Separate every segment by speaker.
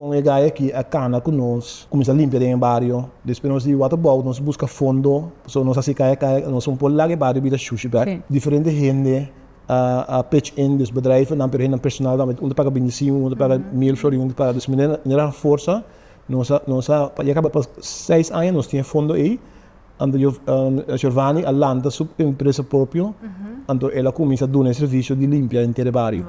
Speaker 1: Con e gaya aki a cana cu nos cuminsa limpia den e bario. Despues nos di waterbouw nos busca fondo so nos a sica e caya nos un po laga e bario bira shushi bek. Diferente hende a pitch in dus bedrijvennan pero hendenan personal tambe un ta paga binti singui un ta paga mil florin un ta paga dus mil manera a forsa nos a nos a pa yaca pa seis aña nos tin e fondo ey anto Giovani a lanta su empresa propio anto el a cuminsa duna e servicio di limpia enter e bario.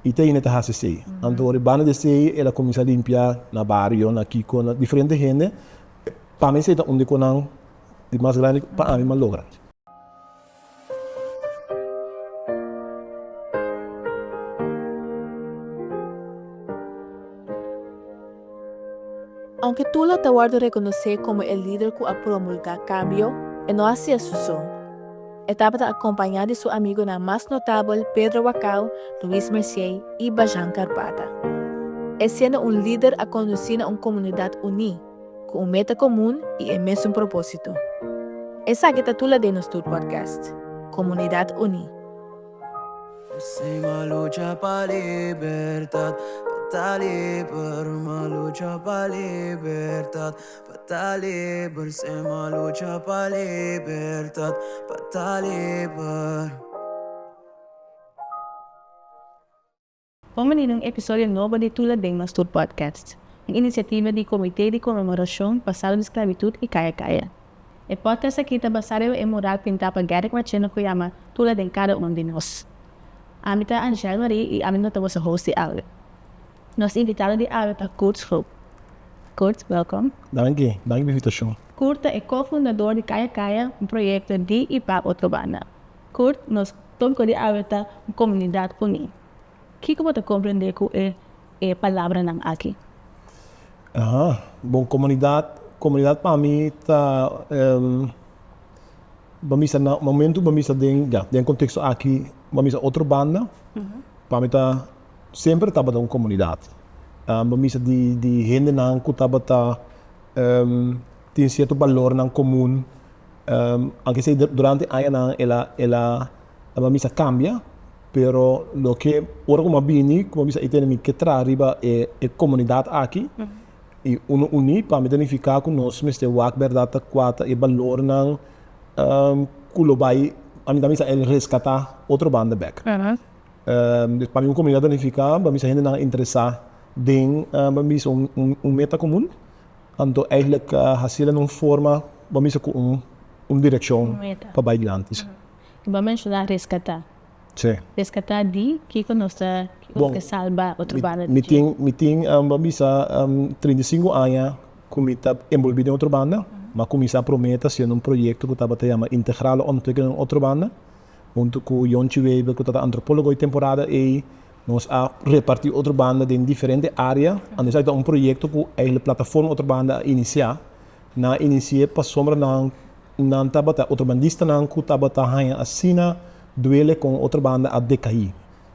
Speaker 1: I Teine ta hasi esei. Anto ribanda di esei el a kuminsá limpiá na bario, na kiko, na diferente hende. Pa mi esei ta un di konan di mas grandi pa ami m'ha logra. Aunke Tula ta wòrdu rekonosé komo e lider ku a promulgá kambio, e no hasié su son. E tabata acompaña di su amigonan mas notabel Pedro Wacau, Luis Mercier y Bajan Carpata. E siendo un lider a conduci na un comunidad uni, cu un meta comun y e mesun proposito. Esaki ta tula den nos tur podcast, Comunidad Uni. Sima lucha pa libertad, pa ta liber, ma lucha pa libertad. Pa ta liber sem a lucha pa libertad pa ta liber. Bon benido un episodio nobo di Tula den Nos Tur Podcast, un iniciativa di Comité di Conmemoracion pa Salba di Sclavitud y Caya Caya. E podcast aki ta basa riba e mural pinta pa Garrick Marchena cu yama Tula den cada un di nos. Ami ta Angel Marie y ami no ta boso host di audio. Nos invitado di awe ta Kurt Schoop. Kurt, welkom. Danki, danki pa invitashon. Kurt ta e ko-fundador di Kaya Kaya, un proyekto di i pa Otrobanda. Kurt, nos tópiko di awe ta un komunidat uní. Kiko bo ta komprendé ku e e palabranan aki? Aha, bon, komunidat, komunidat pa mi ta bo bisa na momentu bo bisa den, ya, den konteksto aki bo bisa Otrobanda, pa mi ta semper tabata un komunidat. Bo misa di hendenan ku tabata tin sierto balornan komun, aunke sea durante añanan el a bo misa kambia, pero loke ora ku bo a bini ku bo misa i tene mi ke traha riba e komunidat aki i unu uní pa mi ta nifiká ku nos mester wak bèrdat ta kua ta e balornan ku lo bai, ami ta bisa el reskatá otro banda bek. Pa mi un komunidat unifiká pa mi sa hendenan interesá den bo a bisa un meta komun, anto eigelik hasié den un forma bo a bisa ku un direkshon pa bai dilanti. Y bo a menshoná reskatá. Reskatá di kiko nos ta kiko ta salba otro banda di ke? Mi tin bo a bisa trinta i sinku aña ku mi ta enbolbí den otro banda. Mi a kuminsá promé ta hasiendo un proyekto ku tabata yama Integrale Ontwikkeling Otro Banda. Huntu ku Yonchi Weber ku ta ta antropólogo e temporada ei, nos a repartí Otro Banda den diferente área. Anto esaki ta un proyekto ku èigblik Plataforma Otro Banda a inisiá. Nan a inisi'é pasobra nan nan tabata otrobandistanan ku tabata haña asina duele kon Otro Banda a dekaí.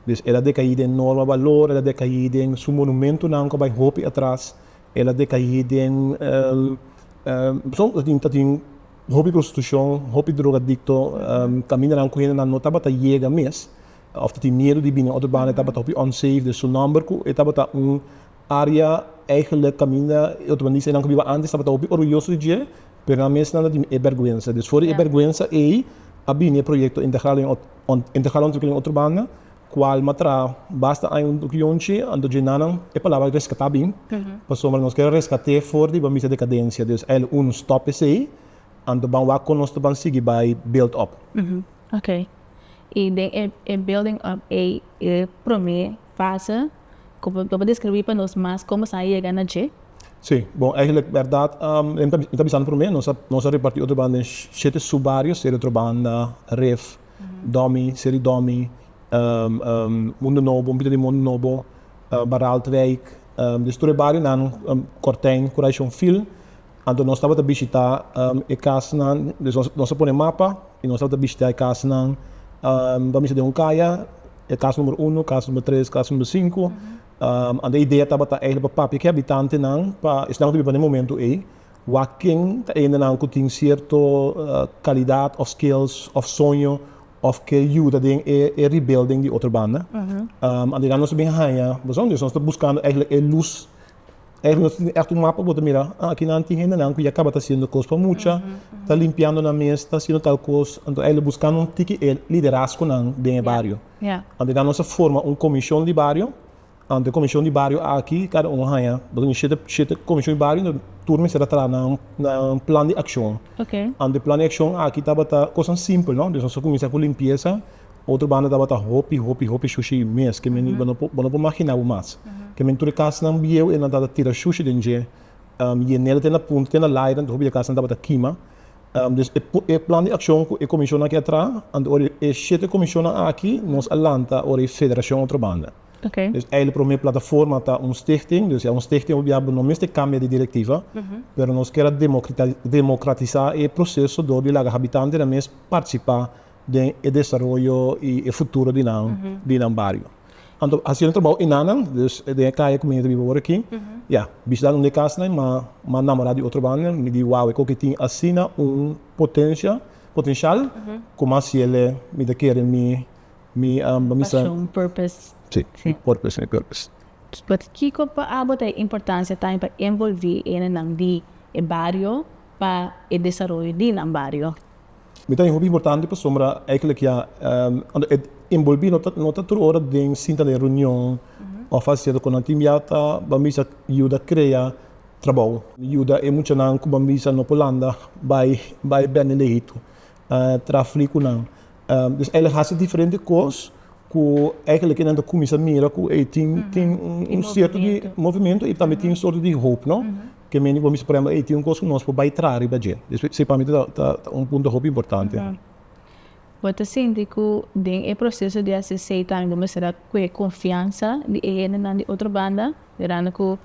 Speaker 1: Dus el a dekaí den norma balor, el a dekaí den su monumentunan ku a bai hopi atras, el a dekaí den, ta tin ta tin Hopi prostitucion, hopi drogadicto, tambe nan cu hendenan no tabata yega mes of ta tin miedu di bini otro banda, e tabata hopi unsafe den su nomber cu e tabata un area eigenlijk caminda e otro bandisa nan cu biba antes tabata hopi orguyoso di dje, pero nan mes nan ta tin e berguensa. Dus for di e berguensa ey a bini e proyecto Integrale Ontwikkelen otro banda. Ku alma tra basta aña un yunchi, anto dje nanan e palabra reskatá bin, pasobra nos ke reskat'é for riba misa dekadensia. Dus a el un stòp esei, anto ban wak kon nos ta ban sigui bai build up. Oké. I den e building up ei, e promé fase, ku bo por deskribí pa nos mas komo sa yega na dje? Sí. Bon, eigenlijk bèrdat, mi ta bisa anto promé, nos a repartí otro banda den shete subbarios, Serio Trobanda, Ref. Domi, Seri Domi, Mundo Nobo, Mbita di Mundo Nobo, Baraltwijk, des tur e barionan, Kortijn, ku Raishonfil, anto nos tabata bishitá e kasanan, des nos a pone mapa i nos tabata bishitá e kasanan, bo a mira den un kaya, e kas numero uno, kas numero tres, kas numero sinku, anto e idea tabata pa papia ku e habitantenan pa esnan ku ta biba na e momentu ei, Wak ken ta endenan ku tin sierto kalidat òf skills òf soño òf ke yuda den e rebuilding di otro banda? Anto ya nos ta bin haña boso, nos ta buskando eigenlijk e lus. Eigenlijk nos tin ègt un mapa ku bo ta mira, a akinan tin hendenan ku ya kaba ta hasiendo kos pa mucha, ta limpiando nan mes, ta hasiendo tal kos. Anto eigenlijk buskando un tiki e liderazgonan den e bario. Anto ya nos ta forma un komishon di bario. Ante Komishon di Bario aki, kada un a haña bosnan shete shete Komishon di Bario, enton tur mester a traha nan nan plan di akshon. Ante plan di akshon aki tabata kosnan simpel, no? Nos a kuminsá ku limpiesa, otro banda tabata hopi hopi hopi shushi mes, ke men bo no por bo no por maginá bo mas. Ke men tur e kasnan bieu e nan tabata tira shushi den dje, yenel te na punta te na laidan, enton hopi di e kasnan tabata kima. Dus e e plan di akshon ku e komishonnan aki a traha, ante ora e shete komishonnan aki nos a lanta ora e federashon otro banda. Dus ei lo promé plataforma ta un stichting, dus ya un stichting hopi diabu no mester kambia di direktiva, pero nos kier a demokratisá e proseso dor di laga habitantenan mes partisipá den e desaroyo i e futuro di nan di nan bario. Anto hasiendo trabou enanan, dus den e kaya ku mi ta biba awor aki, ya, bishidad un di e kasanan mi mi a namorá di otro banda, mi di wao, e koki tin asina un potensia potenshal, kuma hasiele mi ta kere mi. Mi amba mi sa. Pasion, purpose. Sí, mi purpose, mi purpose. But kiko pa abo ta e importancia tambe pa envolvi e hende di e bario pa e desaroyo di nan bario? Mi ta hopi importante pasobra eigenlijk ya e envolvi no ta tur ora den sinta den reunion of a cierto cosa. Tin bia ta bambisa yuda crea trabao, yuda e muchanan cu bambisa no por landa bay bende lejitu. tra fli ku nan. Pues ey lo hasi diferente kos ku eigelik ke nan ta kuminsá mira ku ey tin tin un sierto di movementu i tambe tin un sorto di hoop, no? Ke men di bo mester, por ehempel, ey tin un kos ku nos por bai traha riba dje. Esei pa mi ta ta un punto hopi importante. Bo ta sinti ku den e proseso di hasi esei tambe bo mester a kuge konfiansa di e hendenan di otro banda, mirando ku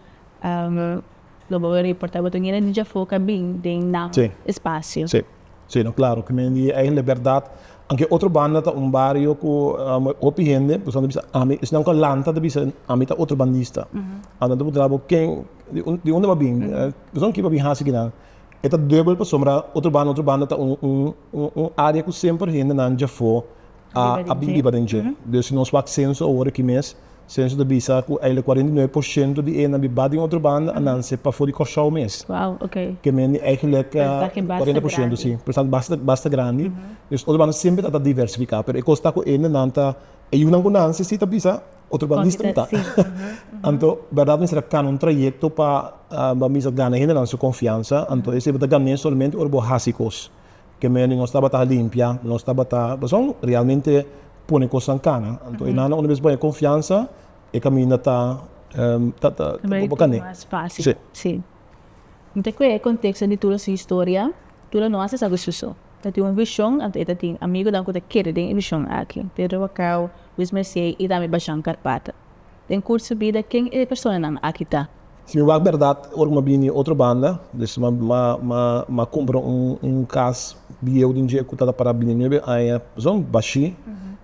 Speaker 1: Lo bo a reporta bo ta nini di djafó ka bin den nan espasio. Sí, sí, no klaro ke men di ey lo berdad. Anke otro banda ta un bario ku hopi hende pasobra ta bisa ami esnan ku a lanta ta bisa ami ta otro bandista. Anto bo tra bo ken di unda bo a bin, pasobra ki bo a bin hasi kinan. E ta dubel pasobra otro banda otro banda ta un área ku semper hendenan djafó. a bin biba den dje. Dor si nos wak senso awor aki mes, senso ta bisa ku eile kuarenta i nuebe por shento di enan biba den otro banda a nanse pafó di Kòrsou mes. Kemen di eigelek kuarenta por shento si. Persentahe basta basta grandi. Dors otro banda semper ta ta diversifiká, pero e kos ta ku ende nan ta e yunan ku nanse si ta bisa, otro banda distru no ta. Anto bèrdat mester a kana un trayekto pa bo a bisa gana hendenan su konfiansa, anto esei bo ta gan'é solamente ora bo hasi kos. Ke mene nos tabata a limpia, nos tabata pasobra realmente pone kosnan kana. Anto e nana unda mes baya konfiansa e kaminda ta bo kane. Sí. Mi ta kue e konteksto di tur su historia, tur no hasi esaki su so. Ta tin un vishon, anto e ta tin amigonan ku ta keda den e vishon aki, Pedro Wacau, Luis Mercier i tambe Bashan Carpata. Den curso bida ken e personanan aki ta? Si mi wak berdad ora cu mi a bini otro banda, dus mi a cumpra un cas bieu den dje cu tata para bini nuebe aña pasobra bashi,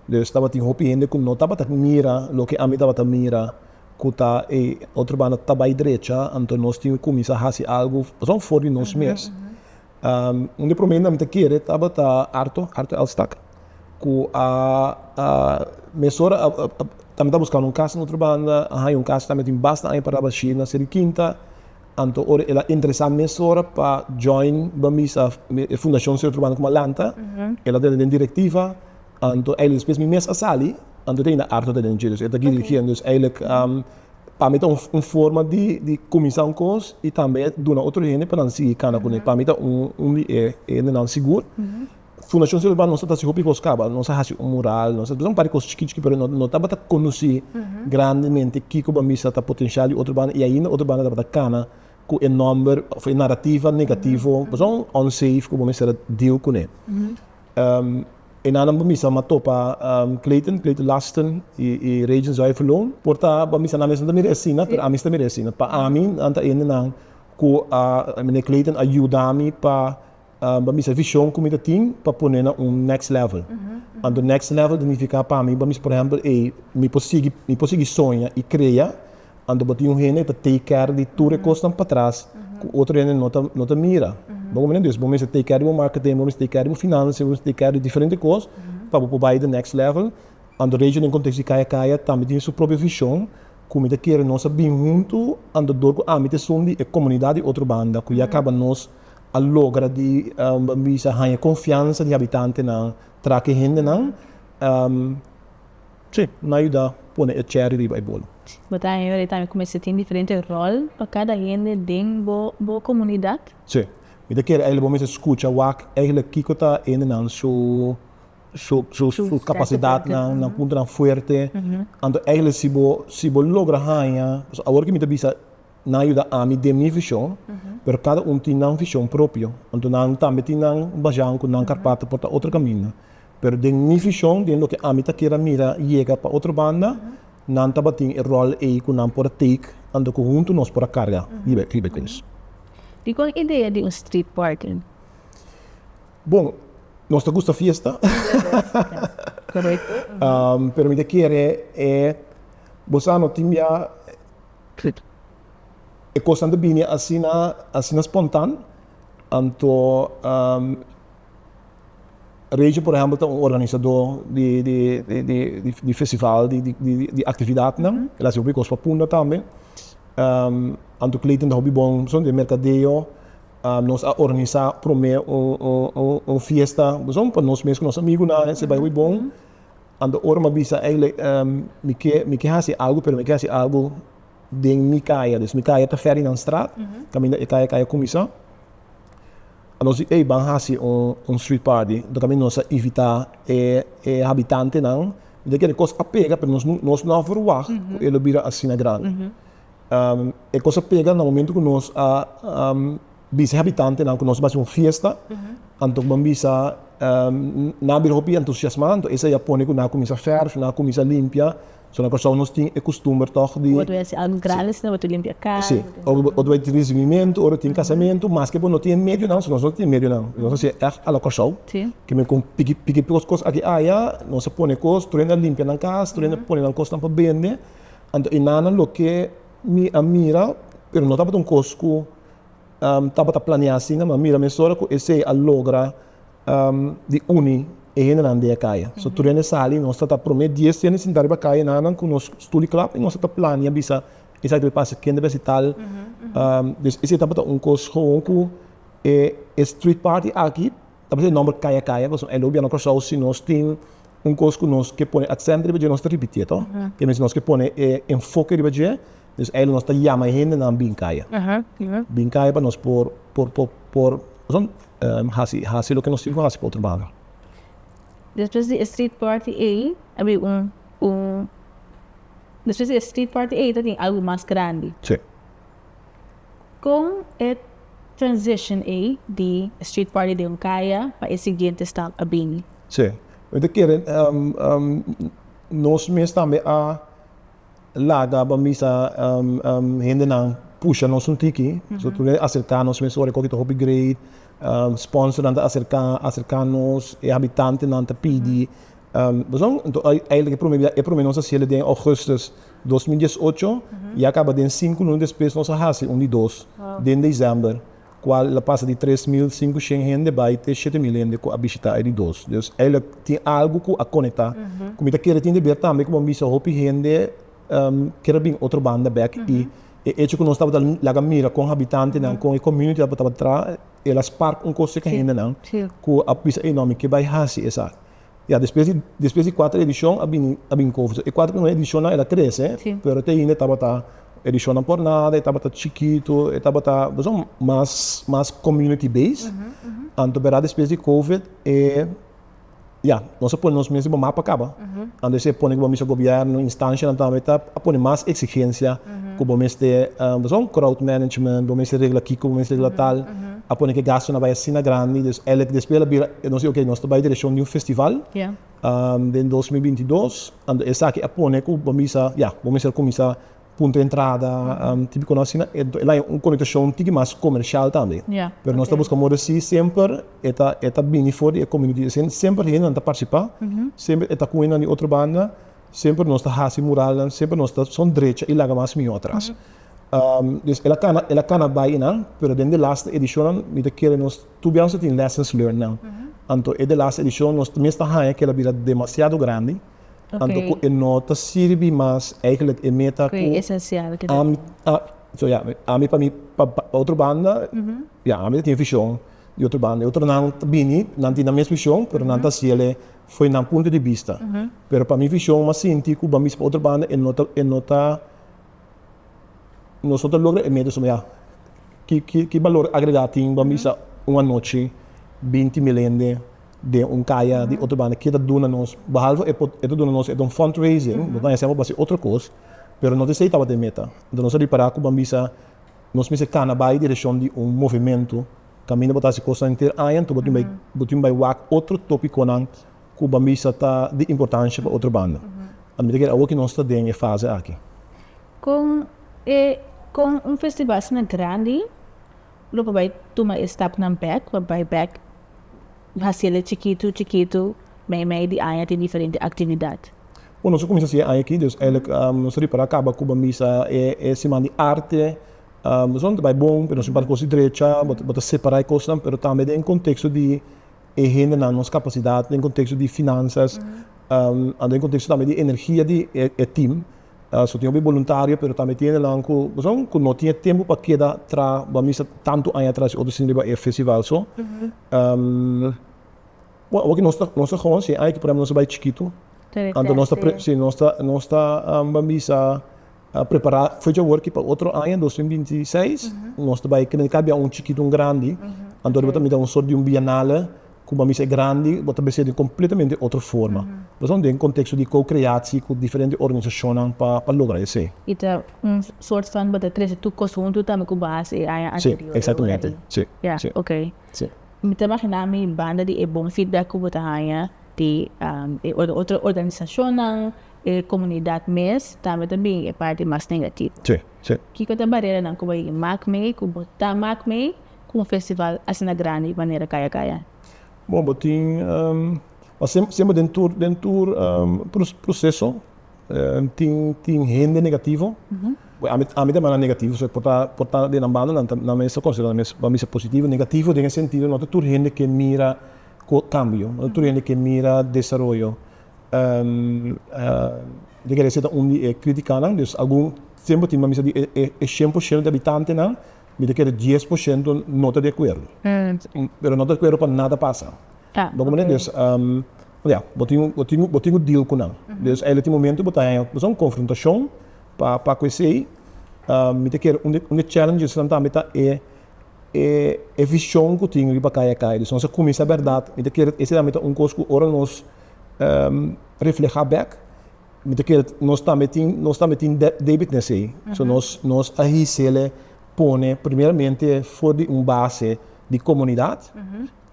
Speaker 1: dus tabatin hopi hende cu no tabata mira loke ami tabata mira cu ta e otro banda ta bay drecha, anto nos tin cu cuminsa haci algo pasobra for di nos mes. Un di e prome nan ta kere tabata Arto, Arto Elstak, ku a mesora tambe ta buskando un kas na otro banda, a haña un kas tambe tin basta aña paraba ashí na Seri Kinta, anto ora el a interesá mesora pa join Bambisa e fundashon si otro banda kuma lanta, el a tene den direktiva, Anto eilek despues mi mes a sali, anto ta hinda arto ta den Jerusalem, e ta kiri kier, dus eilek pa mi ta un forma di di kuminsá un kos i tambe duna otro hende pa nan sigui kana kuné, pa mi ta un di e hendenan sigur. Fundashon Cielo Urbano nos ta hasi hopi kos kaba, nos a hasi un mural, nos a hasi un par di kos chikí chikí pero no tabata konosí grandemente kiko pa mi sa ta potensial di otro banda i ainda otro banda tabata kana ku e nòmber òf e narativa negativo, pasobra un unsafe ku bo mester a deal kuné. E nanan bamisa m'a topa Clayton, Clayton Laston i Regent Zuiverloon. Por ta bamisa nan mes no ta mira asina, pero ami si ta mira asina. Pa ami nan ta hendenan ku a Meneer Clayton a yuda mi pa bamisa e vishon ku mi ta tin pa pone na un next level. Anto next level ta nifiká pa mi bamisa por ehèmpel ei mi por sigui mi por sigui soña i krea Anto bo tin un hende ta take care di tur e kosnan patras ku otro hende no ta mira. Bo kominda entonces bo mester take care di bo marketing, bo mester take care di bo finansia, bo mester take care di diferente kos pa bo por bai den next level. Anto Rachel den kontekst di Kaya Kaya tambe tin su propio vishon ku mi ta kere nos a bin huntu anto dor ku ami ta esun di e komunidat di otro banda ku ya kaba nos a logra di bo bisa haña konfiansa di habitantenan traki e hendenan. Sí, no a yuda pone e cherry riba e bolo. Bo ta hende di tambe ku mester tin diferente ròl pa kada hende den bo bo komunidat? Sí. Mi ta kere eihele bo mester skucha wak eihele kiko ta hendenan su su su su kapasidatnan, nan puntonan fuerte. Anto eihele si bo si bo logra haña, pasobra awor ke mi ta bisa. Nan a yuda ami den mi vishon, pero kada un tin nan vishon propio. Anto nan tambe tin nan bajanan ku nan karpata por ta otro kaminda. Pero den mi vishon, den loke ami ta kere a mira yega pa otro banda, nan tabatin e ròl ei ku nan por a take anto ku huntu nos por a karga riba e kos. Dikon idea di un street party? Bon, nos ta gusta fiesta. Pero mi ta kere e, bo sa no tin bia. Click. E cosnan ta bini asina, asina spontan. Anto Rachel por ehempel ta un organisador di di festival di actividadnan, el hasi hopi cos pa punda tambe. Anto Clayton ta hopi bon pasobra den mercadeo nos a organisa prome un fiesta pasobra pa nos mes cu nos amigunan e se bai hopi bon. Anto ora mi a bisa eilek mi ke mi ke hasi algu pero mi ke hasi algu den mi kaya dus mi kaya ta Ferdinand straat kaminda e kaya kaya kuminsá a nos di ey ban hasi un un street party anto kaminda nos a invitá e e habitantenan mi ta kere kos a pega pero nos nos no a verwagt ku e lo bira asina grandi e kos a pega na momento ku nos a. Bisa e habitantenan ku nos lo hasi un fiesta, anto ku bo bisa nan a bira hopi entusiasmá, anto esei a pone ku nan a kuminsá fèrf, nan a kuminsá limpia. So na Kòrsou nos tin e kustumber tòg di. Bo ta hasi algu grandi asina, bo ta limpia kas. Sí, o ta tin risibimientu, o ta tin kasamentu, maske bo no tin e medionan, nos no tin e medionan, nos hasi e ègt ala Kòrsou. Ke men kon piki piki kos kos aki aya, nos a pone kos, tur hende a limpia nan kas, tur hende a pone nan kosnan pa bende. Anto e nannan loke mi a mira, pero no tabata un kos ku. tabata planeá asina, ma mira mesora ku esei a logra di uni e hendenan di e kaya. So tur hende sali, nos ta ta promé dies di hende sintá riba kaya nannan ku nos studi klap i nos ta ta planea bisa esaki ta bai pasa, kende bai hasi tal. Pues esei tabata un kos gewoon ku e street party aki Ta bisa e nomber kaya kaya pasobra el gobierno Kòrsou si nos tin un kos ku nos ke pone aksènt riba dje nos ta ripitié tò? Ke mester nos ke pone e enfoke riba dje, dus eilò nos ta yama e hendenan bin kaya, bin kaya pa nos por por por por pasobra hasi hasi loke nos tin ku hasi pa otro banda. Despues di e street party ei a bin un un despues di e street party ei ta tin algu mas grandi. Sí. Con e transition ey di street party den un caya pa e siguiente stap a bini? Sí. Mi ta kere nos mes tambe a laga pa misa hendenan pusha nos un tiki. So tur a acerca nos mes ora e coki ta hopi great. Sponsornan ta acerca, acerca nos. E habitantenan ta pidi. Razon? Enton eigenlijk e prome biaha, e prome nos hasi el den augustus dos mil dies ocho y a caba den sinku luna despues nos a hasi un di dos den december cual el a pasa di tres mil cincucient hende bay te shete mil hende cu a bishita e di dos. Dus eigenlijk tin algo cu a conecta cu mi ta kere tin deber tambe como a bisa hopi hende kere bin otro banda bek y e hecho cu nos tabata laga mira con habitantenan, con e community tabata tra el a spark un cos cer ca hendenan cu a bisa ey no mi ke bay hasi esaki. Ya despues di despues di cuater edicion a bini a bini cu e cuater primer edicion el a crece Sí. pero te ainda tabata edicionnan por nada e tabata chikito e tabata beso mas mas community base anto bera despues di covid e ya nos a pone nos mes riba map pa caba anto esey a pone cu bo mester gobierno instancianan tambe ta a pone mas exigencia cu bo mester beso crowd management bo mester regla kico bo mester regla tal. a pone cu e gastonan a bay asina grandi, dus elek despues el a bira, nos di ok, nos ta bay direccion di un festival den dos mil binti dos, anto esaki a pone cu bo bisa ya, bo mester cuminsa punto di entrada, tipiconan asina, enton el a haña un connotacion tiki mas comercial tambe, pero nos ta busca modo así semper e ta e ta bini for di e comunidi, asina semper hendenan ta participa, semper e ta cu hendenan di otro banda, semper nos ta haci muralnan, semper nos ta son drecha y laga mas mió atras. Dios el a cana, el a cana bai y nan, pero den de laste edicionnan mi ta kere nos tur biaho sa tin lessons learned nan. Anto e de laste edicion nos ta mes ta haya kela bira demasiado grandi, anto cu e no ta sirbi mas eigenlijk e meta cu esencial cu ami, so ya, ami pa mi, pa otro banda, ya, ami ta tin e vision, di otro banda e otronan ta bini, nan tin nan mes vision, pero nan ta haciele fo'i nan punto di bista, pero pa mi vision m'ha sinti cu banbisa pa otro banda e no ta, e no ta. nos no ta logra e meta suma ya. Ki ki ki balor agregá tin pa bisa un anochi binti mil hende den un kaya di otro banda ke ta duna nos? Behalve e por e ta duna nos e ta un fundraising, bo ta hesé bo pa hasi otro kos, pero no ta esei tabata e meta. Enton nos a ripará ku ban bisa nos mester kana bai direkshon di un movementu kaminda bo ta hasi kosnan henter aña, enton bo tin bai bo tin bai wak otro topikonan ku ban bisa ta di importansha pa otro banda. A mi ta kere awor ku nos ta den e fase aki. Kon e kon un festivalsnan grandi lo por bai tuma e stapnan bek pa bai bek hasi el e chikitu chikitu mei mei di aña tin diferente aktividat? Bo nos a kuminsá hasi e aña aki dus eilik nos a ripará kaba ku ban bisa e e siman di arte esun ta bai bon pero nos tin par kos di drecha bo ta separá e kosnan pero tambe den konteksto di e hendenan, nos capacidad den contexto di finanzas, and den contexto tambe di energia di e team. So tin hopi boluntario, pero tambe tin hendenan cu, pasobra cu no tin e tempo pa keda tra bo a misa tanto aña atras di otro siña riba e festival so. Bo, awor cu nos ta, nos ta hoon, si e aña aki por ehemplo nos a bay chikito, anto nos ta, si nos ta, nos ta bamisa A prepará fue dja wòrki pa otro aña, dos mil binti seis, nos ta bai kende ka bia un chikitu un grandi, anto bo ta mira un sort di un bienale ku bo a misa e grandi, bo ta beste'e di un kompletamente otro forma. Bo sa un den konteksto di ko-kreatie ku diferente organisashonnan pa pa logra esei. I ta un sort van bo ta trese tur kos huntu tambe ku bo a hasi e aña Si, anterior. eksatamente. Si, Ya, si, ok. si. Mi ta imaginá mi banda di e bon feedback ku bo ta haña di e otro organisashonnan, E komunidat mes tambe ta bin e parti mas negativo. Kiko ta bareranan ku bo yega mak mei, ku bo ta mak mei ku un festival asina grandi manera Kaya Kaya? Bon, bo tin semper den tur den tur proseso tin tin hende negativo. Ami ami ta manera negativo so e por ta por ta den nan banda nan ta nan mester konsidera nan mes mester positivo, negativo den e sentido no ta tur hende ke mira cambio, no ta tur hende ke mira desaroyo. Mi ta kere seta un di e kritikanan, dus algun tempu tin mi sa di e shen por shento di abitantenan, mi ta kere dies por shento no ta di akuerdo, pero no ta di akuerdo pa nada pasa, bo comprende? Dus ya, bo tin bo tin bo tin ku deal ku nan, dus einan tin momento bo ta haña kibosnan konfrontashon pa pa ku esei, mi ta kere un di challengesnan tambe ta e e vision cu tin riba caya caya. Dus nos a cuminsa berdad. Mi ta kere esa tambe ta un cos cu ora nos refleha bek, mi ta kere nos tambe tin, nos tambe tin debit na esey. So nos, nos a hisele pone primeramente for di un base di comunidad,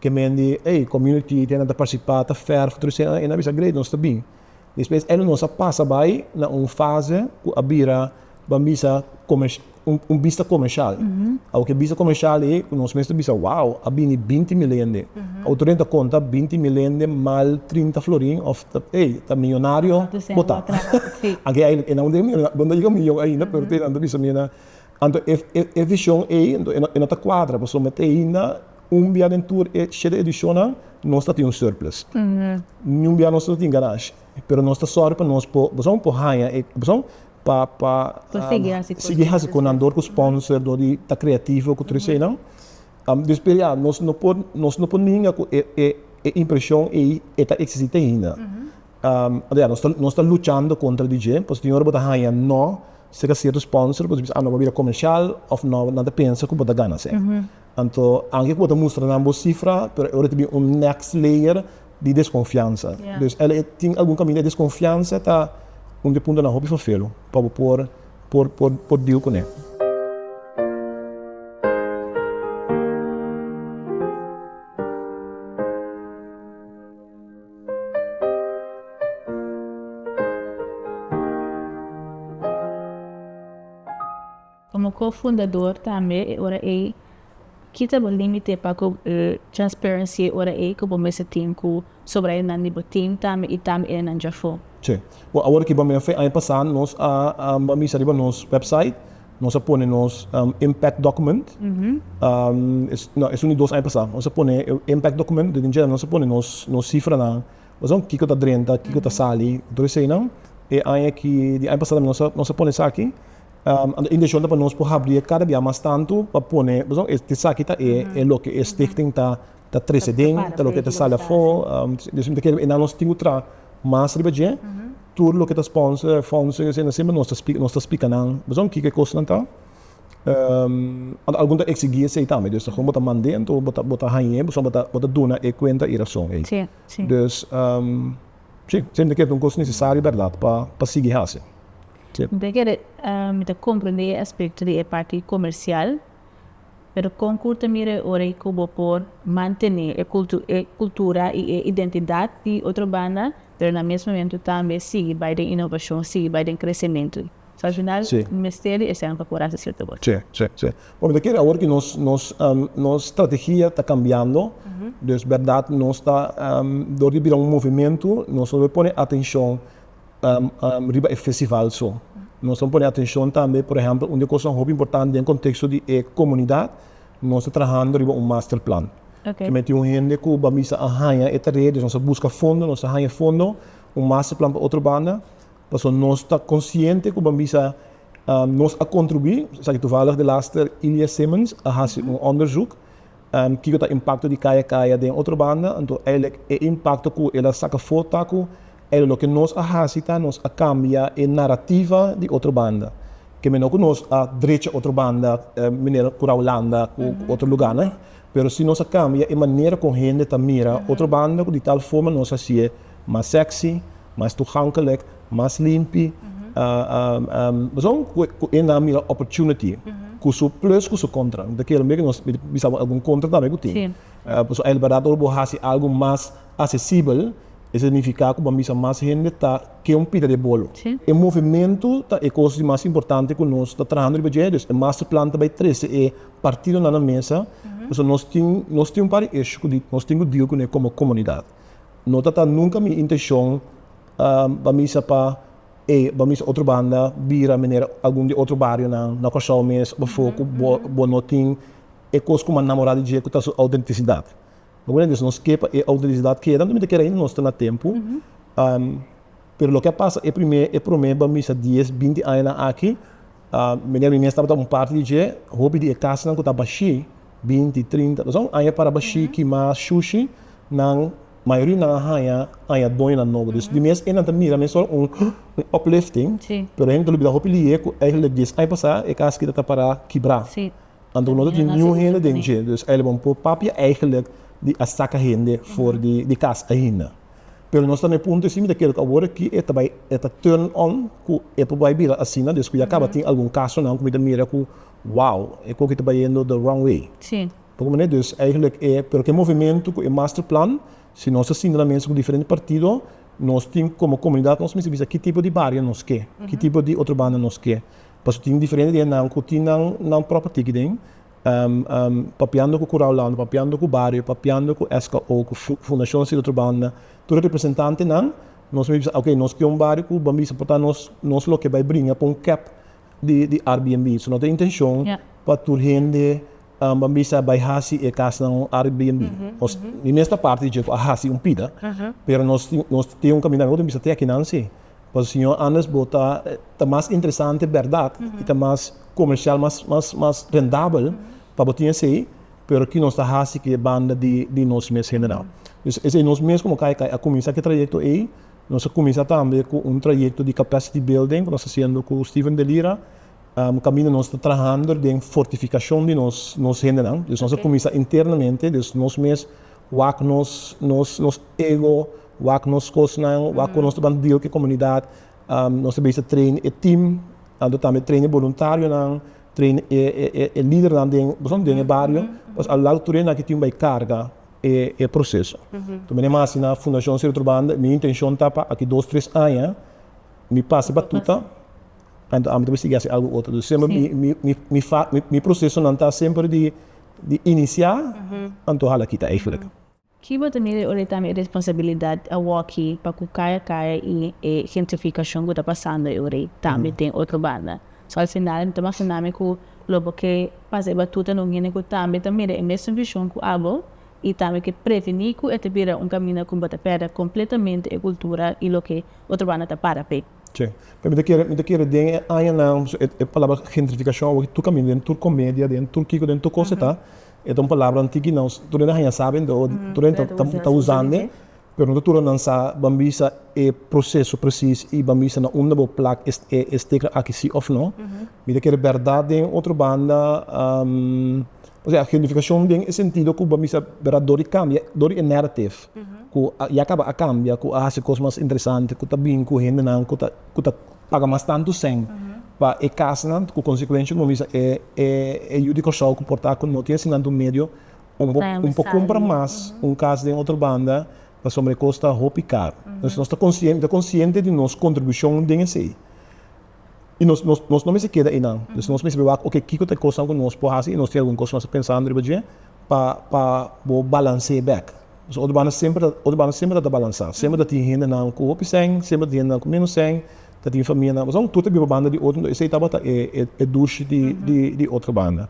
Speaker 1: ke men di, ey, community, e nan ta participa, ta verf, tur esey, e nan a bisa, great, nos ta bin. Despues e nos a pasa bai na un fase cu a bira bambisa un bista comercial. Awor ki e bista comercial e cu nos mes ta bisa wow a bini binti mil hende. Autoridadnan ta conta binti mil hende mal trinta florin of ta ey ta millonario bota. Aki a e nan no a yega millon ainda pero tenan ta bisa mi nan anto e vision ey no ta cuadra pasobra mi ta ainda. Un bia den tur e shete edishonnan nos ta tin un surplus. Niun bia nos no ta tin garashi, pero nos ta sòru pa nos por pasobra por haña e pasobra pa pa sigui hasi cosnan dor cu sponsor, dor di ta creativo cu tur eseinan. Dor per ya nos no por nos no por ninga cu e e e impresion ei e ta existi te ainda. Anto ya nos ta nos ta luchando contra di dje pasobra tin ora bo ta haña no cerca cierto sponsor bo ta bisa a no bo a bira comercial of no nan ta pensa cu bo ta gana se. Anto, anke ku bo ta mustra nan bo sifra, pero e ora ta bin un next layer di deskonfiansa. Dus el tin algun kaminda. E deskonfiansa ta un di e puntonan hopi fafelu pa bo por por deal kuné. Komo ko-fundador tambe e ora ei kita bo límite pa ku transparency e ora ei ku bo mester tin ku sobradonan di bo tim tambe i tambe enan dja afó. Chë, bo awor aki bambina fe, aña pasá nos a bambisa riba nos website, nos a pone nos impact document, no, es un di dos aña pasá, nos a pone e impact document den dje nos a pone nos nos sifranan pasobra kiko ta drenta, kiko ta sali, tur eseinan. E aña aki, di aña pasá tambe nos a pone esaki. Anto e inteshon ta pa nos por habri e kada bia mas tantu pa pone, pasobra e esaki ta e e loke e stichting ta ta trece den, ta loke ta sali afo, dus mi ta kere enan nos tin ku traha mas riba dje, tur loke ta sponsor, fondsen esei nan semper nos ta spika nos ta spika nan pasobra kiko e kosnan ta, anto algun ta eksigi esei tambe, dus ta kon bo ta mande anto bo ta bo ta hañ'e pasobra bo ta bo ta duna e kuenta i rason ei, dus. Sí, siempre ke ta un kos necesario berdad pa pa sigui haci. Sí. Mi ta kere mi ta comprende e aspecto di e parti comercial, pero con cu ta mira e ora y cu bo por mantene e e cultura y e identidad di otro banda, pero na mes momento tambe sigui bay den innovacion, sigui bay den crecemento? So al final Sí. mester di esemplo por hasi cierto cosa. Sí, sí, sí. Porque ta kere awor ki nos, nos, em, nos strategia ta cambiando, dus berdad nos ta, em, door di bira un movimento, nos no lo pone atencion, em, em, riba e festival so. Nos lo pone atencion tambe, por ehempel, un di e cosnan hopi importante den contexto di e comunidad, nos ta trahando riba un masterplan. Ok. Ke menti un hende cu bo a bisa a haña e tarea, dus nos a busca fondo, nos a haña fondo, un masterplan pa otro banda, Paso nos ta konsiente ku bambí sa nos a kontribuí, esaki tuvalig di laster Ilya Simmons a hasi un onderzoek kiko ta impakto di kaya kaya den otro banda, anto eilek e impakto ku el a saka for ta ku eilek loke nos a hasi ta nos a kambia e narativa di otro banda, kemey no ku nos a drecha otro banda manera ku ta Hulanda ku otro luganan, pero si nos a kambia e manera kon hende ta mira otro banda ku di tal forma nos hasié. Mas sexy, mas toegankelijk, mas limpi. Pasobra cu e na mira opportunity cu su plus cu su contra. Mi ta kere mi nos bisa bo algun contra tambe cu tin. Pasobra el verdad ora bo haci algo mas accesibel e significa cu bo a bisa mas hende ta ke un pita di e bolo. E movimento ta e cos di mas importante cu nos ta trahando riba dje. Dus e masterplan ta bay trece e partidonan na mesa. Pasobra nos tin un par di issue cu nos tin cu deal cun'e como comunidad. No ta ta nunca mi intencion pa mi sa pa ey pa mi sa otro banda bira manera algun di otro barionan na Curaçao mes before cu bo bo no tin e cos cu mi a namora di dje cu ta su autenticidad. Mi comprende? Entonces nos ke pa e autenticidad keda anto mi ta keda ainda nos ta na tempo pero loke a pasa e prome e prome pa mi sa dies binti añanan aki. Mira, mi mes tabata un parti di dje. Hopi di e kasnan ku ta bashí, binti, trinta kazón aña para bashí kimá shushi, nan mayoria di nan a haña aña doñonan nobo. Dus di mes e nan ta mira mes solo un un uplifting, pero hende ta lubidá hopi lihe ku eigenlijk dies aña pasá e kas kita ta pará kibrá. Anto ku no ta tin niun hende den dje. Dus aylaba un po papia eigenlijk di a saka hende for di kas ainda. Pero nos ta na e punto ei, si mi ta kere ku awor aki e ta bai, e ta turn on ku e por bai bira asina despues ku ya kaba. Tin algun kasonan ku mi ta mira ku, wow, e koki ta bayendo the wrong way. Por kua manera? Dus eigenlijk e, pero ke movementu ku e masterplan, si nos ta sintra na mesa ku diferente partido, nos tin komo komunidat nos mester bisa ki tipo di bario nos ke, ki tipo di otro banda nos ke. Pasobra tin diferente di nan ku tin nan propio tiki den. papiando ku Kuraulando, papiando ku Bario, papiando ku SKO, ku Fundashon Silo Trobanda, tur e representantenan, nos mi bisa ok, nos pion bario ku bo bisa por ta nos nos loke bai bringa pa un kep di Airbnb. So no ta intenshon pa tur hende bo bisa bai hasi e kasnan un Airbnb. Nos mi mes ta parti di dje ku a hasi un pida, pero nos nos tin un kaminda, mi bisa te akinan si, pasobra siñor Anders bo ta ta mas interesante bèrdat i ta mas comercial mas rendabel pa bo tin esey, pero ki nos ta haci cu e banda di nos mes general. Pues esey nos mes como Kai Kai a cuminsa cu e trayecto ey, nos a cuminsa tambe cu un trayecto di capacity building cu nos ta haciendo cu Steven de Lira, caminda nos ta trahando den fortificacion di nos hendenan, nos a cuminsa internamente, dus nos mes wak nos ego, wak nos cosnan, wak cu nos ta ban deal cu e comunidad, Nos ta bisa train e team, anto tambe train e boluntarionan, train e lidernan den pasobra den e bario pues a lado tur e nan ki tin un bai carga e proceso. Tur menen mas asina Fundacion Sierra Tur Banda mi intencion ta pa aki dos tres aña mi pasa batuta anto ami ta por sigui haci algo otro. Dus semper mi procesonan ta semper di inicia anto hala kita eigenlijk. Ki bo ta mira ora e ta mi responsabilidad awoki pa cu kaya kaya y e gentrificacion cu ta pasando e ora tambe den otro banda? So al final mi ta mashina mi cu lo bo ke pasa e batuta na un hende cu tambe ta mira e mesun vision cu abo y tambe ke preveni cu e ta bira un caminda cu bo ta perda completamente e cultura y loke otro banda ta para p'e. Che. Pero mi ta kere, mi ta kere den e añanan, e palabra gentrificacion awoki tur caminda den tur comedia, den tur kico, den tur cos e ta. E ta un palabra antiki nan tur hende a haña sa bende o tur hende ta usande, pero no ta tur nan sa bambisa e proseso presis i bambisa na unda bo plak e stekla aki si òf no. Mi ta kere bèrdat den otro banda, osea gentrifikashon den e sentido ku bambisa bèrdat dor di kambia, dor di e narrative ku ya kaba a kambia, ku a hasi kos mas interesante, ku ta bin ku hendenan ku ta. paga mas tantu sèn pa e kasnan ku konsekuensha ku bo bisa e e yu di Kòrsou ku por ta ku no tin asin tantu medio un por un por kumpra mas un kas den otro banda pasobra e kos ta hopi karu entonces nos ta konsien ta konsiente di nos kontribushon den esei i nos nos nos no mester keda einan entonces nos mester wak oke kiko ta e kosnan ku nos por hasi i nos tin algun kos ku nos ta pensando riba dje pa pa bo balansee bèk Nos otro banda semper ta ta balansá. Semper ta tin hendenan ku hopi sèn, semper ta tin hendenan ku ménos sèn, ta tin famianan. Pasobra tur ta biba banda di otro, esei tabata e dushi di otro banda.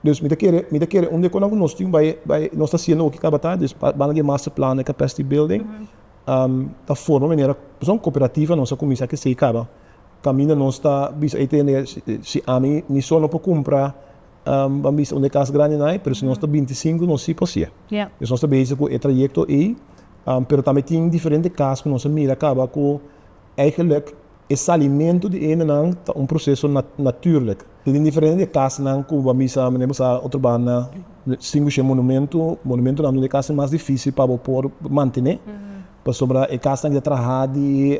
Speaker 1: Dus mi ta kere un di e kosnan ku nos tin bai, nos ta hasiendo oki tabata dus banda di e masterplan di capacity building ta forma manera pasobra un cooperativa nos a kuminsá k'esei kaba kaminda nos ta bisa ei tende si ami mi solo no por kumpra Ban bisa unda e kas grandi nai, pero si nos ta binti sinku nos si por siye. Pues nos ta bezig ku e trayekto ei, pero tambe tin diferente kas ku nos a mira kaba ku eigenlik e salimentu di hendenan ta un proseso naturlik. Ta tin diferente di e kasnan ku ban bisa menen bo sa otro banda sinku shi e monumentu, monumentunan dor di e kasnan mas difisil pa bo por mantené. Pasobra e kasnan ke ta trahá di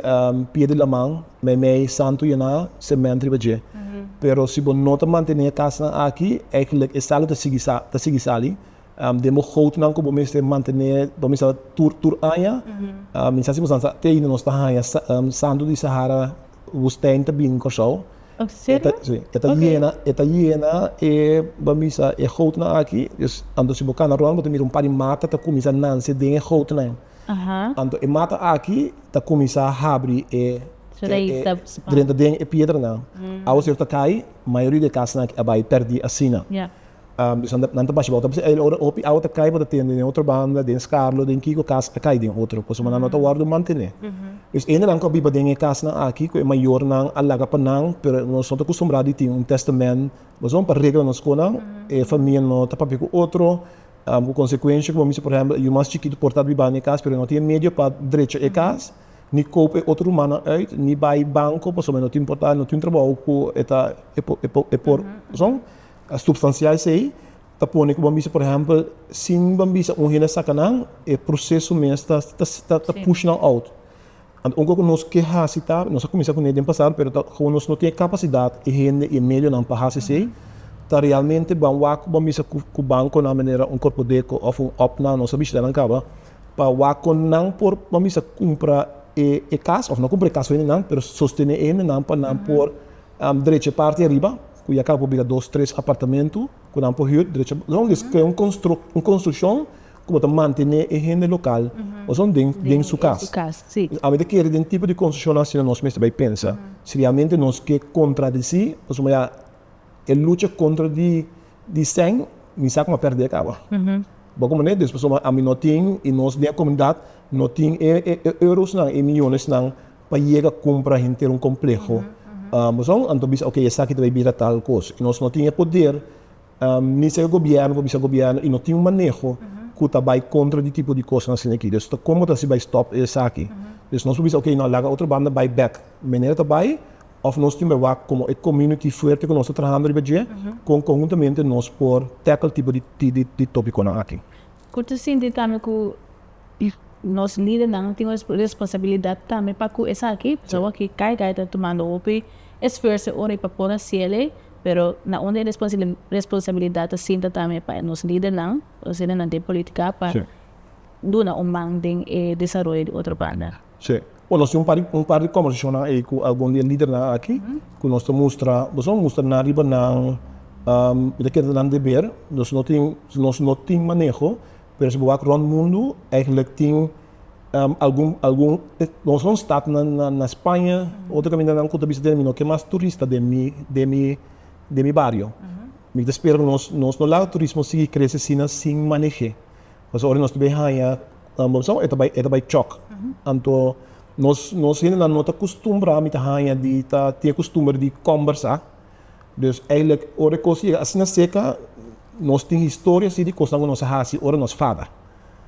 Speaker 1: pia di laman, meimei, santu yená semènt riba dje. Pero si bo no ta mantené e kasnan aki, eigenlijk e salu ta sigui sa, ta sigui sali. Den bo goutnan ku bo mester mantené pa misa tur, tur aña, mi sa si bo sa, sa te aínda nos ta haña santu di Sahara Wustèn ta bini Kòrsou. Oh, serio? E ta, sí, e ta Ok. llena, e ta llena e, bo a misa, e goutnan aki. Dus, anto si bo kana rònt, bo ta mira un par di mata ta kuminsá nanse den e goutnan. Aha. Anto e mata aki ta kuminsá habri e, Su e, rais e, ta spanda. drenta den e piedranan. Aos e ta kai, mayoria di e kasnan aki a bai pèrdí asina. Ya. Bisnan, nan ta basha bouta pasobra e ora hopi awa ta kai bo ta tende den otro banda, den Scarlo, den kiko kas a kai den otro, pasobra nan no ta wòrdu mantené. Pues hendenan ku a biba den e kasnan aki ku e mayornan a laga pa nan, pero nos no ta kustumbrá di tin un tèstamènt, pasobra pa regla nos konan e famia no ta papia ku otro, ku konsekuensha ku bo mester, por ehèmpel, e yu mas chikitu por tabata biba den e kas pero e no tin e medio pa drecha e kas, ni koop e otro rumannan uit, ni bai banko pasobra e no ta importá, e no tin un trabou ku e ta e por, pasobra. A substansia esei ta pone ku ban bisa, por ehèmpel, sin ban bisa un hende a saka nan, e proseso mes ta ta push nan out. Anto ungkor ku nos ke hasi ta, nos a kuminsá ku ne den pasado, pero ta kabaw nos no tin e kapasidat, e hende i e medionan pa hasi esei, ta realmente ban wak ku ban bisa ku bankonan manera un Corpodeco òf un op nan, nos a bishita nan kaba, pa wak ku nan por ban bisa kumpra e e kas òf no kumpra e kas for di nan, pero sostene e hendenan pa nan por drecha e parti ariba. Ku ya kaba por bira dos, tres apartamentu ku nan por hür derecho. Loke es krea un konstrukshon ku bo ta mantené e hende lokal ozon den su kas. Ami ta kere den tipo di konstrukshonnan asina nos mester bai pensa si realmente nos ke kontradisí pasobra ya e lucha kontra di sèn mi sa ku mi a pèrdè kaba. Bo komo neto es pasobra ami no tin i nos den e komunidat no tin e eurosnan, e miyonesnan pa yega kumpra henter un kompleho, boso anto bisa oke esaki ta bay bira tal kos y nos no tin e poder ni ser gobierno pa bisa gobierno y no tin un maneho cu ta bay contra di tipo di cosnan asina aki dus ta como ta hasi bay stop esaki dus nos por bisa oke no laga otro banda bay back manera ta bay of nos tin bay wak como e community fuerte cu nos ta trahando riba dje con conhuntamente nos por tackle tipo di di topiconan aki. Ku ta sinti tambe ku nos lidernan tin un responsabilidat tambe pa ku esaki, pasobra ki kai kai ta tumando hopi esfuerso ora e pa por hasiele, pero na unda e responsabilidat ta sinta tambe pa nos lidernan, nos lidernan den politika pa duna un man den e desaroyo di otro banda. Chè, bo nos tin un par di kòmbersashonnan ei ku algun di e lidernan aki ku nos ta mustra, bo sabra mustra nan riba nan, bo ta keda nan deber, nos no tin, nos no tin maneho, pero si bo wak rònt mundu eigelik tin algun, algun, nos ta hòn stat na Spaña, otro kamindanan ku ta bisa den mi, no ke mas turista den mi, den mi, den mi bario. Mi ta spera ku nos, nos no laga turismo sigui krese asina sin maneh'é. Pasobra ora nos ta bai haña almorsá, e ta bai, e ta bai chòk. Anto nos, nos hendenan no ta kustumbrá mi ta haña di ta tin e kustumber di kòmbersá. Dus eigentlik ora e kos yega asina seka, nos tin historia si di kosnan ku nos a hasi ora nos fada.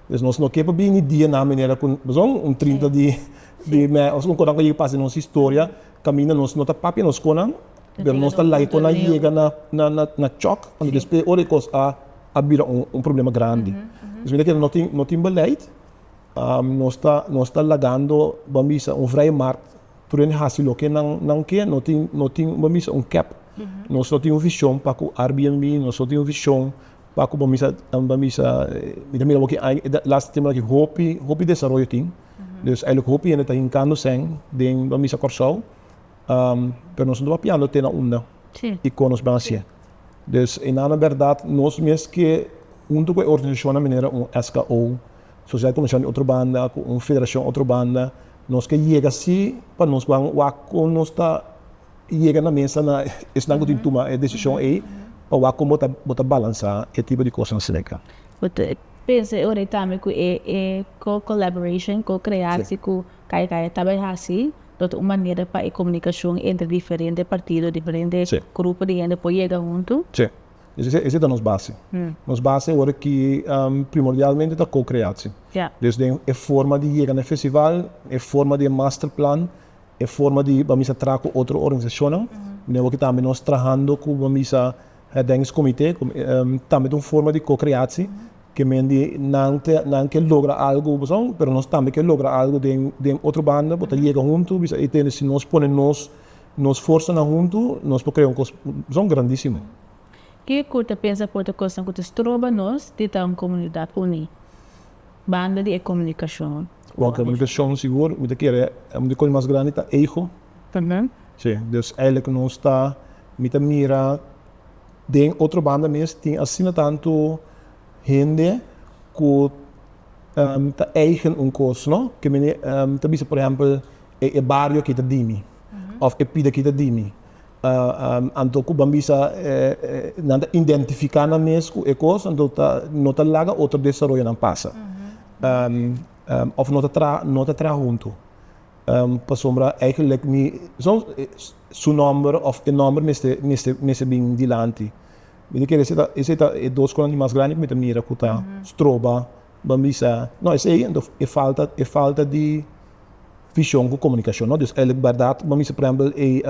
Speaker 1: Dus nos no ke pa bini dia na manera ku, pasobra un trinta di di mei òf un kosnan ku a yega pasa den nos historia kaminda nos no ta papia nos skonan, Pero nos ta laico na yega na chok y despues ora e cos a bira un problema grandi. Esaki ta keda no tin beleid, nos ta lagando bo a bisa un vrije markt, tur hende haci loke nan ke, no tin bo a bisa un cap, nos no tin un vision pa cu Airbnb, nos no tin un vision pa cu bo a bisa, mi ta mira bo aki aña, e laster tiemponan aki hopi, hopi desaroyo tin, dus hopi hende ta hincando seng den bo a bisa Corsou. pero nos no ta papiando te na unda y con nos ban hacié. Dus e na na berdad nos mes ke hunto cu e organisacionnan manera un SKO, Sociedad Comercial di otro banda, cu un federacion otro banda, nos ke yega si pa nos ban wak con nos ta yega na mesa na esnan cu tin tuma e decision ey pa wak con bo ta balansa e tipo di cosnan asina. Bo ta pensa e ora ey tambe cu e co-collaboration, co-creaci, cu Kai kai, ta bay hasi, lo ta un manera pa e comunicacion entre diferente partido, diferente grupo di hende por yega hunto. Sí. Esey ta nos base. Nos base ora ki primordialmente ta co-creaci. Dus den e forma di yega na e festival, e forma di e masterplan, e forma di bambisa traha cu otro organisacionnan, ne awor ki tambe nos trahando cu bambisa Herdenks Comité tambe ta un forma di co-creaci, ke men di nan ta nan ke logra algo pasobra pero nos tambe ke logra algo den den otro banda bo ta yega huntu bisa e tende si nos pone nos nos forsanan huntu nos por crea un cos pasobra grandisimo. Kico ta pensa por ta cosnan cu ta stroba nos di ta un comunidad uni? Banda di e komunikashon. Bon komunikashon sigur mi ta kere un di kos mas grandi ta ego. Si, dus eilig nos ta mi ta mira den otro banda mes tin asina tantu hende ku ta eigen un kos no ke mi ta bisa por ehempel e bario aki ta di mi. Of e pida kita di mi. Anto ku ban bisa nan ta identifiká nan mes ku e kos, anto no ta laga otro desaroyonan pasa. Of no ta traha huntu. Pasobra eigenlijk mi su nòmber of e nòmber mester bin dilanti. Mi ta kere si esei ta e dos kosnan di mas grandi ku mi ta mira ku ta stroba. Bo a bisa, No, esei anto e falta, e falta di vision cu comunicacion, no? Dus eilic bardad, bo a bisa, por ehempel, e,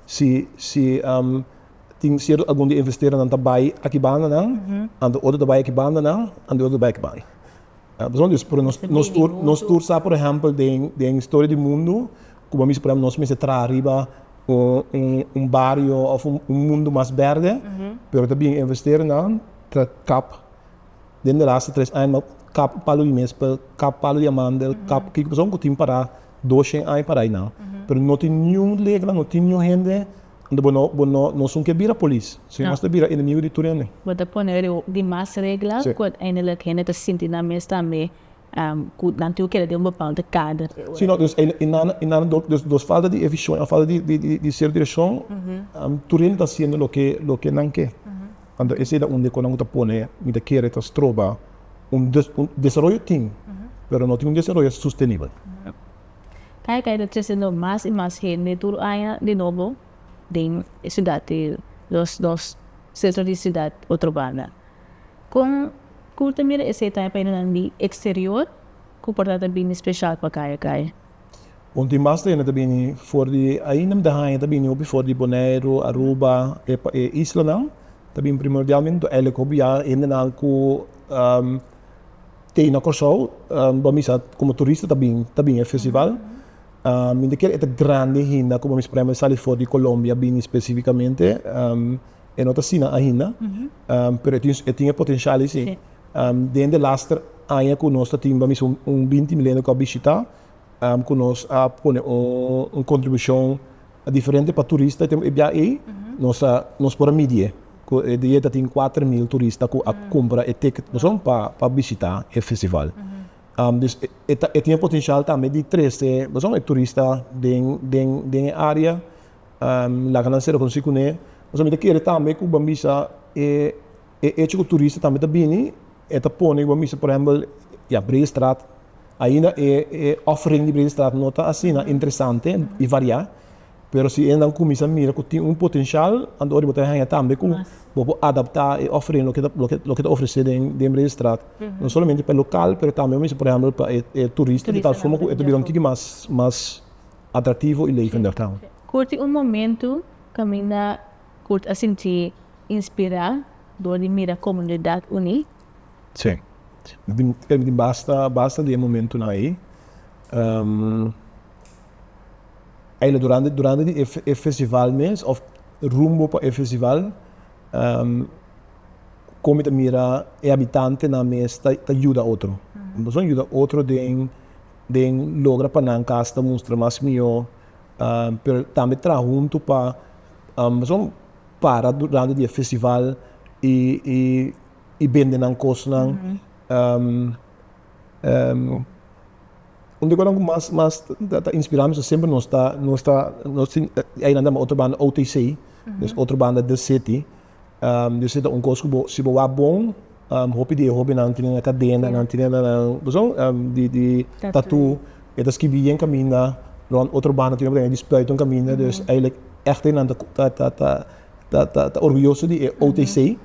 Speaker 1: si, si tin cierto algun di e investeernan ta bay aki bandanan, anto otro ta bay aki bandanan, anto otro ta bay aki bandanan. Ta hopi esei. Pero nos, nos tur, nos tur sa, por ehempel, den, den historia di mundu, cu bo a bisa, por ehempel, nos mester traha riba un, un, un bario of un, un mundu mas berde, pero ta bin e investeernan ta kap. Den di laste tres aña nan kap palu di mespel, kap palu di amandel, kap kiko pasobra ku tin para dos shen aña para einan. Pero no tin niun regla, no tin niun hende unda bo no bo no no esun ke bira polis, sino mas ta bira enemigo di tur hende. Bo ta pone di mas regla ku uiteindelijk hende ta sinti nan mes tambe. ku nan tin ku keda den un bepalde kader. Si no, dus e nana e nana dor dos dos falta di e vishon òf falta di di di ser direkshon, tur hende ta hasiendo loke loke nan ke. Anto esei ta und'e kon nan ku ta pone mi ta kere ta stroba un des un desaroyo tin, pero no tin un desaroyo sustenibel. Kai kai ta tresendo mas i mas hende tur aña di nobo den e siudat di nos nos sentro di siudat otro banda. Kon ku ta mira esei ta haña payanan di eksterior ku por ta ta bini speshal pa kaya kaya? Un tin basta hende ta bini for di ainda mi ta haña ta bini hopi for di Boneiru, Aruba, e islanan ta bini primordialmente to elik hopi ya hendenan ku tei na Kòrsou bo a misa komo turista ta bin ta bin e festival mi ta kere e ta grandi hinda ku bo a misa por ehempel sali for di Kolombia bini spesifikamente. E no ta asina ainda, pero e tin e tin e potencial esi. Den de laster aña cu nos ta tin bamisa un un binti milenio cu a bishita, cu nos a pone un un contribucion diferente pa turista e tem e bia ey, nos a nos por a midi e. Cu e dia ta tin kuater mil turista cu a cumpra e ticket pasobra pa pa bishita e festival. Dus e e ta e tin e potencial tambe di trece pasobra e turista den den den e area Laga nan sera conoci cune. Pasobra mi ta kere tambe cu bo a bisa e hecho cu turista tambe ta bini, e ta pone cu bo a bisa, por ehempel, ya, Bredestraat, ainda e offering di Bredestraat no ta asina interesante y varia, pero si e nan cuminsa mira cu tin un potencial, anto hopi bo ta haya tambe cu bo por adapta e offering loke ta, loke ta ofrece den Bredestraat, no solamente pa e local, pero tambe bo a bisa, por ehempel, pa e turista, di tal forma cu e ta bira un kiki mas, mas. atractivo y leven del town. Curti un momento caminda cu ta sinti inspira dor di mira comunidad uni. Si. Creo tin basta basta di e momentonan ey. Ey lo durante durante di e festival mes of rumbo pa e festival con mi ta mira e habitantenan mes ta ta yuda otro. Boso a yuda otro den. den logra pa nan cas ta mustra mas mihó, pero tambe traha huntu pa pasobra para durante di e festival y bende nan cosnan. Un di e cosnan cu mas mas ta inspira mi semper nos ta, nos tin, ainan ta lama otro banda OTC, otro banda the city. Dios e ta un kos ku bo, si bo wak bon, hopi di e hobennan tine nan kadena, nan tine nan kuzon di tatu, e ta skibi yen kaminda rònt otro banda tine ku tene di spluit un kaminda, dus eilig echte nan ta orguyoso di e OTC,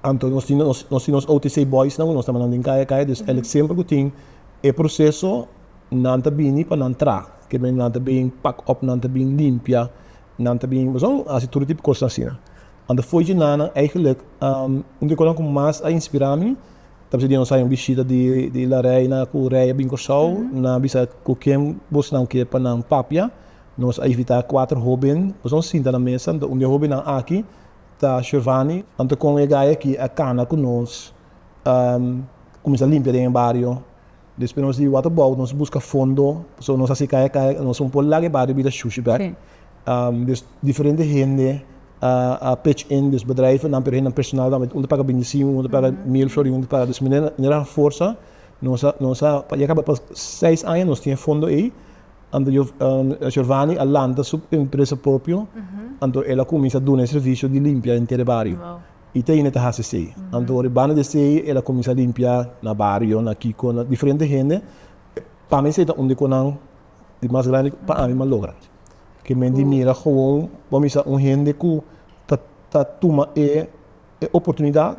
Speaker 1: anto nos tin nos tin nos OTC boysnan ku nos ta mannan den kaya kaya, dus eilig semper ku tin e proseso nan ta bini pa nan tra, ke men nan ta bin pak òf, nan ta bin limpia, Nan ta bin pasobra nan a hasi tur e tipo kos asina. Anto fo'i dje nan, nan eigenlik, un di e kosnan ku mas a inspirá mi tabata dje nos a un bishita di di La Reina ku rei a bin Kòrsou. Nan a bisa ku ken bosnan ke pa nan papia. Nos a invitá kuater hóben pasobra nos sinta na mesa. Anto un di e hóbennan aki ta Shervani. Anto kon e gaya aki a kana ku nos, a kuminsá limpia den e bario. Despues nos di Waterbouw nos busca fondo, so nos haci caya caya, nos un por laga e bario bida shushi bek. Dus diferente hende a pitch in, dus bedrijvennan, pero hendenan personal tambe, un ta paga bintisiu, un ta paga mil florien, un ta paga, dus manera nos a forsa, nos a, nos a, pa ya caba pa seis aña nos tin e fondo ey, anto Giov, Giovani a lanta su empresa propio, anto el a cuminsa duna e servicio di limpia henter e bario. I Teine ta hasi esei. Anto ribanda di esei el a kuminsá limpiá na bario, na kiko, na diferente hende. Pa mi esei ta un di konan di mas grandi pa ánima logra. Ke men di mira gewoon bo a misa un hende ku ta tuma e oportunidat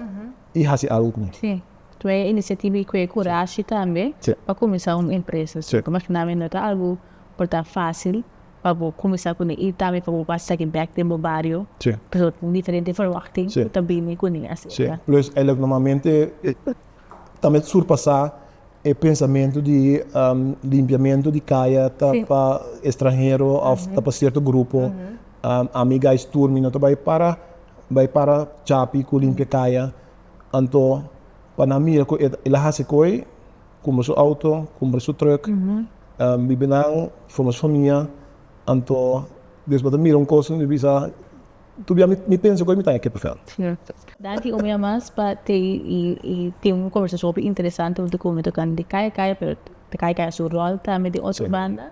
Speaker 1: i hasi algu ku nan. Sí, ku e inisiativa i ku e kurashi tambe pa kuminsá un empresa. Ku imaginá mi no ta algu por ta fásil. pa bo kuminsá kune i tambe pa bo basta di bèk den bo bario. Pasobra tin diferente ferwachting ku ta bini kune aserka. Plus e lo normalmente ta met surpasá e pensamentu di limpiamentu di kaya ta pa estranhero òf ta pa sierto grupo. Ami gais tur mi no ta bai para bai para chapi ku limpia kaya. Anto pa nan mira ku e lo hasi koe. Kumbra su outo, kumbra su trùk. Bibi nan, forma su famia. Anto despues bo ta mira un kos i mi bisa, tur bia mi pensa ku ei mi ta na Keppel Veld. Danki un bia mas pa Tei i tin un kombersashon hopi interesante untu ku mi tokante di Kaya Kaya, pero ta Kaya Kaya su ròl tambe den otro banda.